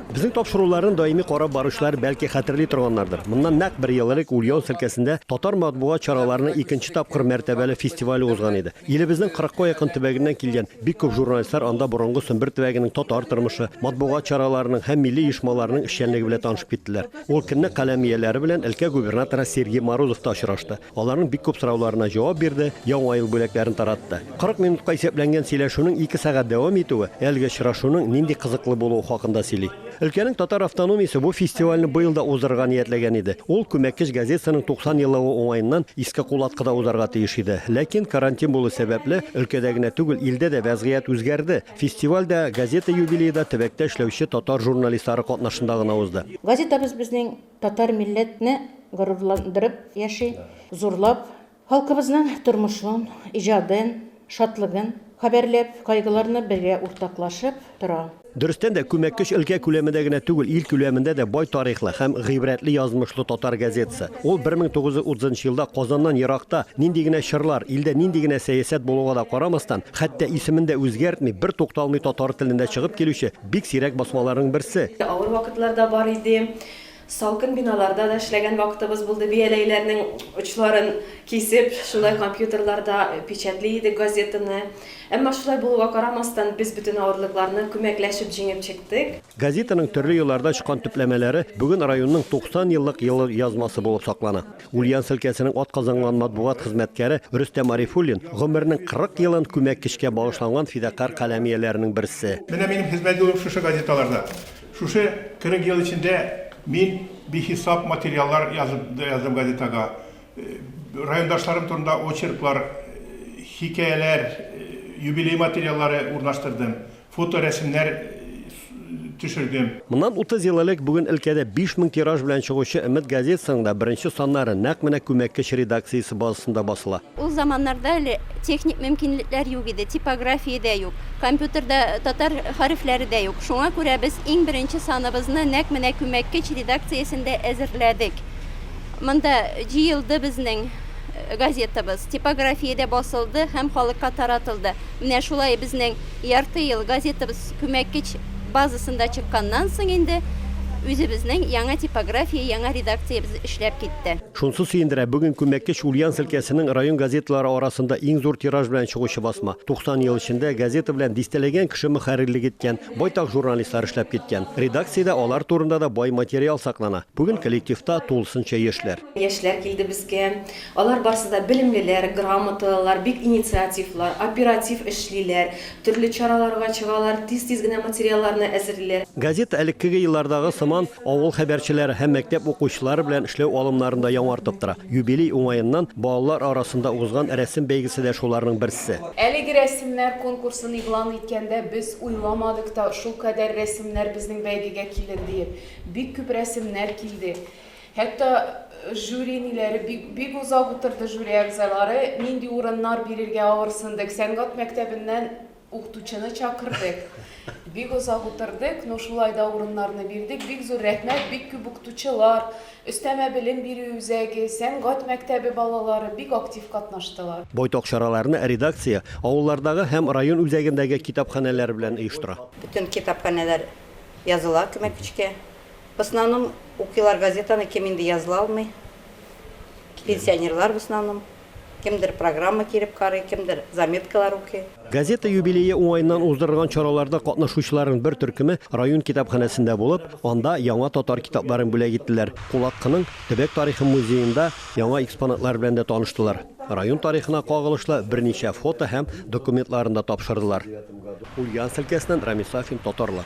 Безнең тапшыруларны даими карап баручылар бәлки хәтерли торганнардыр. Моннан нәкъ бер ел элек Ульяновск өлкәсендә татар матбугат чараларының икенче тапкыр мәртәбәле фестивале узган иде. Илебезнең кырыкка якын төбәгеннән килгән бик күп журналистлар анда борынгы Сөмбер төбәгенең татар тормышы, матбугат чараларының һәм милли оешмаларының эшчәнлеге белән танышып киттеләр. Ул көнне каләм ияләре белән өлкә губернаторы Сергей Морозов та очрашты. Аларның бик күп сорауларына җавап бирде, Яңа ел бүләкләрен таратты. 40 минутка исәпләнгән сөйләшүнең ике сәгать дәвам итүе әлеге очрашуның нинди кызыклы булуы хакында сөйли. Өлкәнең татар автономиясе бу фестивальне быел да уздырырга ниятләгән иде. Ул Күмәккеч газетасының 90 еллыгы уңаеннан Иске Кулаткыда узарга тиеш иде. Ләкин карантин булу сәбәпле, өлкәдә генә түгел, илдә дә вәзгыять үзгәрде. Фестиваль дә, газета юбилее да төбәктә эшләүче татар журналистлары катнашында гына узды. Газетабыз безнең Татар милләтне горурландырып яши, зурлап, халкыбызның тормышын, иҗадын, шатлыгын хәбәрләп, кайгыларны бергә уртаклашып тора. Дөрестән дә, Күмәккөч өлкә күләмендә генә түгел, ил күләмендә дә бай тарихлы һәм гыйбрәтле язмышлы татар газетасы. Ул 1930 елда Казаннан еракта, нинди генә чорлар, илдә нинди генә сәясәт булуга да карамастан, хәтта исемен дә үзгәртми, бертукталмый татар телендә чыгып килүче, Бик сирәк басмаларның берсе. Авыр вакытлар да бар иде. Салкын биналарда да эшләгән вакытыбыз булды. Бияләйләрнең очларын кисеп, шулай компьютерларда печатьли идек газетаны. Әмма шулай булуга карамастан, без бөтен авырлыкларны күмәкләшеп җиңеп чыктык. Газетаның төрле елларда чыккан төпләмәләре бүген районның 90 еллык елъязмасы булып саклана. Ульян селкәсенең атказанган матбугат хезмәткәре Рөстәм Арифуллин гомеренең 40 елын күмәккечкә багышланган фидакарь каләм ияләренең берсе. Менә минем хезмәт юлым шушы газеталарда. Шушы 40 ел эчендә мин бихисап материаллар язып да яздым газетага. Райондашларым турында очерклар, хикәяләр, юбилей материаллары урнаштырдым. фоторәсемнәр төшердем. Моннан утыз ел элек бүген өлкәдә биш мең тираж белән чыгучы Өмет газетасының да беренче саннары нәкъ менә күмәккеч редакциясе базасында басыла. Ул заманнарда әле техник мөмкинлекләр юк иде, типография дә юк, компьютерда татар хәрефләре дә юк. Шуңа күрә без иң беренче саныбызны нәкъ менә күмәккеч редакциясендә әзерләдек. Монда җыелды безнең газетабыз, типографиядә басылды һәм халыкка таратылды. Менә шулай безнең Ярты ел газетабыз Күмәккеч базасында чыкканнан соң инде үзебезнең яңа типография, яңа редакциябез эшләп китте. Шунсы сөендерә, бүген Күмәккеч Ульяновск өлкәсенең район газеталары арасында иң зур тираж белән чыгучы басма. 90 ел эчендә газета белән дистәләгән кеше мөхәррирлек иткән, байтак журналистлар эшләп киткән. Редакциядә алар турында да бай материал саклана. Бүген коллективта тулысынча яшьләр. Яшьләр килде безгә. Алар барсы да белемлеләр, грамоталылар, бик инициативлар, оператив эшлиләр, төрле чараларга чыгалар, тиз-тиз генә материалларны әзерлиләр. Газета элеккеге еллардагы сыман авыл хәбәрчеләре һәм мәктәп укучылары белән эшләү алымнарын да яңартып тора. Юбилей уңаеннан балалар арасында узган рәсем бәйгесе дә шуларның берсе. Әлеге рәсемнәр конкурсын игълан иткәндә без уйламадык та, шулкадәр рәсемнәр безнең бәйгегә килер диеп. Бик күп рәсемнәр килде. Хәтта жюри ниләре бик бик озак утырды жюри әгъзалары, нинди урыннар бирергә авырсындык, сәнгать мәктәбеннән укытучыны чакырдык. Бик озак утырдык, ну шулай да урыннарны бирдек, бик зур рәхмәт, бик күп укытучылар, өстәмә белем бирү үзәге, сәнгать мәктәбе балалары бик актив катнаштылар. Байтак чараларны редакция авыллардагы һәм район үзәгендәге китапханәләр белән оештыра. Бөтен китапханәләр языла күмәкечкә. В основном укыйлар газетаны, кем инде языла алмый. Пенсионерлар в основном. Кемдер программа киреп карый, кемдер заметкалар укый. Газета юбилее уңаеннан уздырылган чараларда катнашучыларның бер төркеме район китапханәсендә булып, анда яңа татар китапларын бүләк иттеләр. Кулаткының төбәк тарихы музеенда яңа экспонатлар белән дә таныштылар. Район тарихына кагылышлы берничә фото һәм документларын да тапшырдылар. Ульяновск өлкәсеннән Рамис Сафин, Татарлар.